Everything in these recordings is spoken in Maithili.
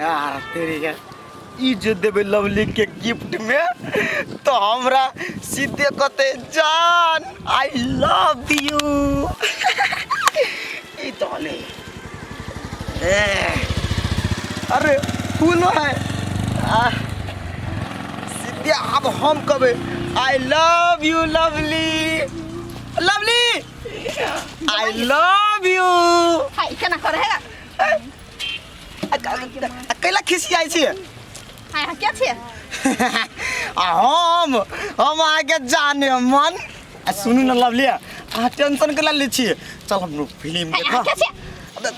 यार तेरी के ई जे देबे लवली के गिफ्ट में तो हमरा सीधे कहते जान आई लव यू ई तो ले ए, अरे फूलो है आ, सीधे अब हम कबे I love you lovely lovely I love you हाय केना करे है कैला खिसियाई छी हाय हां के छे आ हम हम आगे जाने मन आ सुनू ना लवली अहाँ टेंशन कैला ले छी चल हम फिल्म हाय देखा हां के छे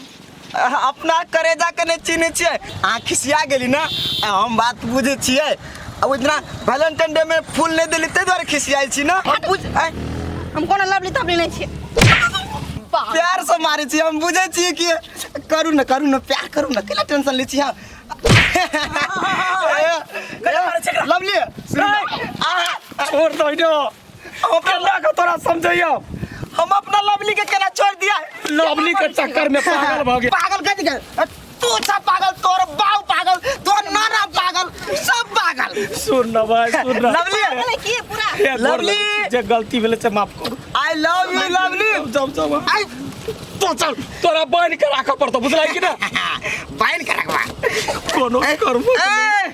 अहाँ अपना करेजा के नहीं चीनी छिए अहाँ खिसिया गेली ना आ हम बात बुझे छिए अब इतना वैलेंटाइन डे में फूल नहीं दिली ते द्वारा खिसियाई छी ना हम बुझ आय, हम कोनो लवली तबली नहीं छिए बाप प्यार से मारे छी हम बुझे छी कि करू ना करू ना प्यार करू ना केला टेंशन ले छी हम लवली सुन ना। आहा, छोड़ दो इनो हम अपना माँ को थोड़ा समझाइयो हम अपना लवली के केना छोड़ दिया लवली के चक्कर में पागल भ गया पागल कह दिया तू सब पागल तोर बाऊ पागल तोर नाना पागल सब पागल सुन ना भाई सुन ना लवली अरे की पूरा हे गोर लवली। लगे, जे गलती भेले से माफ कर आई लव यू लवली जब जब आई तो चल तोरा बन के राखऽ पड़तो बुझला कि ना बाइन करकवा कोनो कर्म ए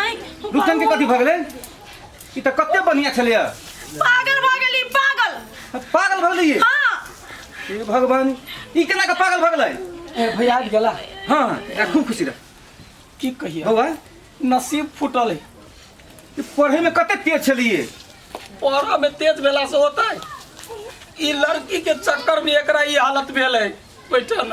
आँय, रुस्तम के कथी भऽ गेलै ई तऽ कते बढ़िया छलैया पागल भऽ गेली पागल पागल भऽ गेलै हाँ हे भगवान ई केना के पागल भऽ गेलै ए भैया आबि गेला हाँ एकरा खूब खुशी रह की कहिए बौआ नसीब फूटल है ई पढ़े में कते तेज छलिए पढ़ऽ में तेज भेला से होतै ई लड़की के चक्कर में एकरा ई हालत भेल है बैठल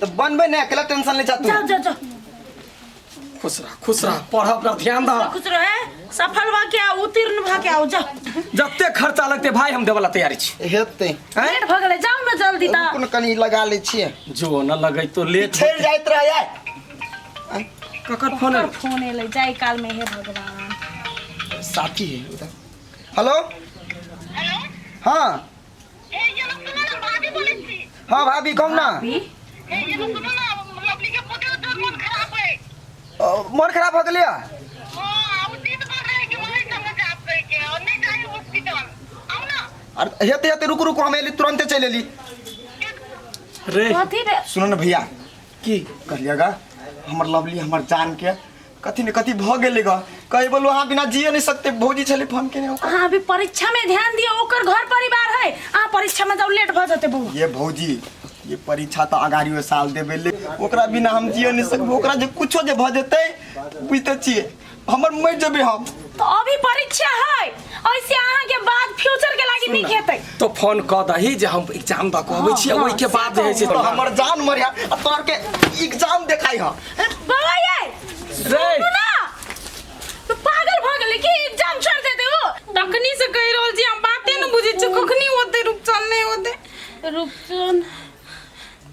तो बनबे ना अकेला टेंशन ले जा तू जाओ जाओ जाओ खुश रह खुश रह पढ़ अपना ध्यान दा कुछ रहे सफल भा के आओ उत्तीर्ण भा के आओ जाओ जते खर्चा लगते भाई हम देवला तैयारी छी हेते हैं लेट भऽ गेलै जाओ ने जल्दी ता कोन कनी लगा ले छिए जो न लगै तो लेट छेड़ जाइत रह यार ककर फोन ओकर फोन एलै जाय काल में हे भगवान साथी है हेलो हाँ हाँ भाभी कहू ना अ, मन खराब हो गेलै अरे हेते हेते रुकू रुकू हम एली तुरंते चलि एली रे कथी रे सुनो ना भैया की करिएगा हमर लवली हमर जान के कथी ने कथी भऽ गेलै ग कहे बोलो अहाँ बिना जिए नहीं सकते भौजी छलै फोन केने ओकर अहाँ अभी परीक्षा में ध्यान दियो ओकर घर परिवार है अहाँ परीक्षा में जाओ लेट भऽ जेतै बौआ ये भौजी ये परीक्षा तऽ अगाड़ियो साल देबे ले ओकरा बिना हम जिए नहीं सकबो ओकरा जे कुछो जे भऽ जेतै बुझते छियै हमर मरि जेबै हम तो अभी परीक्षा है ऐसे अहाँ के बाद फ्यूचर के लागी नहीं खेते तो फोन क दही जे हम एग्जाम द कहबै छी ओइ के बाद जे है से तो हमर जान मरिया आ तोर के एग्जाम देखाई ह बाबा ये रे सुनू ना तो पागल भ गेले कि एग्जाम छोड़ देते हो तखनी से कहि रहल छी हम बाते न बुझै छी कखनी होते रुपचन नै होते रुपचन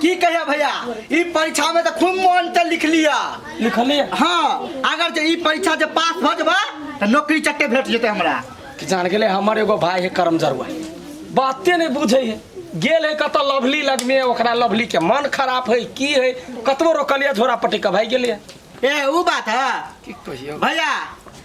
की कहिया भैया ई परीक्षा में तो खूब मन से लिख लिया लिखली हाँ अगर जे ई परीक्षा जे पास भ जबा तो नौकरी चट्टे भेट जेते हमरा कि जान गेले हमर एगो भाई है करम जरुआ बाते नहीं बुझे है गेल है कत लवली लग में ओकरा लवली के मन खराब है की है कतबो रोकलिया झोरा पटी के भाई गेलिए ए ऊ बात है की कहियो भैया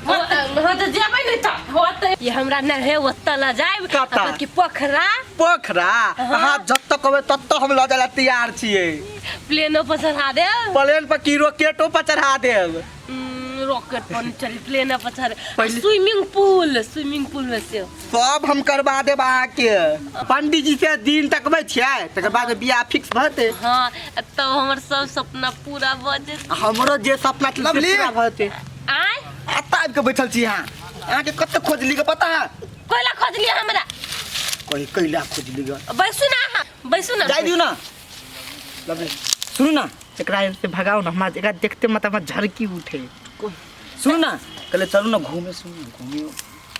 जेबै ने तऽ होतै ये हमरा न है ओतऽ ल जाए कतऽ? की पोखरा पोखरा अहाँ जतऽ कहबै ततऽ हम लऽ जाय ला तैयार छियै प्लेनो पर चढ़ा दे प्लेन पर की रॉकेटो पर चढ़ा देब रॉकेट पर चढ़ी प्लेन पर चढ़ पहिले- स्विमिंग पूल स्विमिंग पूल में से सब हम करवा देब अहाँके पंडीजी से दिन तकबै छियै तकर बाद बियाह फिक्स भऽ जेतै हाँ तब हमर सब सपना पूरा भऽ जेतै हमरो जे सपना छलै से लवली। पूरा भऽ जेतै आय एतऽ आबि कऽ बैठल छी अहाँ अहाँके कतऽ खोजली के पता है कोइला खोज लिया हमरा कही कैला खोजली ग बैसू ना अहाँ बैसू ना जाय दियौ ना लवली सुनू ना एकरा एने से भगाउ ना हमरा एकरा देखते मतलब हमरा झरकी उठे सुनू ना कहले चलू ना घूमे सुनू ना घूमे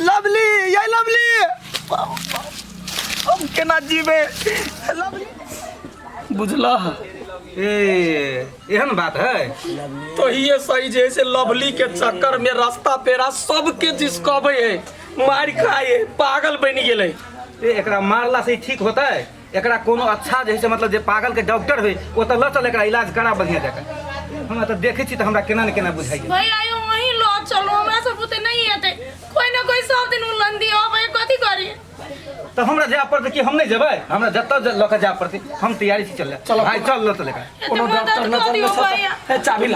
लवली ये लवली हम केना जीबे लवली बुझला ए एहन बात है तो ये सही जे से लवली के चक्कर में रास्ता पेरा सबके जिसकबे है मार खाए पागल बन गेले ए एकरा मारला से ई ठीक होता है एकरा कोनो अच्छा जे है से मतलब जे पागल के डॉक्टर होय ओ तऽ लऽ चल एकरा इलाज करा बढ़िया जकाँ हमरा तऽ देखै छी तऽ हमरा केना ने केना बुझाइए भाई आयो वही लो चलो हमरा से बुते नहीं हेते कोई ना कोई सब दिन उलन दियो भाई कथी करी तऽ हमरा जाय पड़तै कि हम नहि जेबै हमरा जतऽ ज- लऽ कऽ जाय पड़तै हम तैयारी छी चल चलो। भाय चल लऽ चल एकरा कोनो डॉक्टर ना चल चाबी ला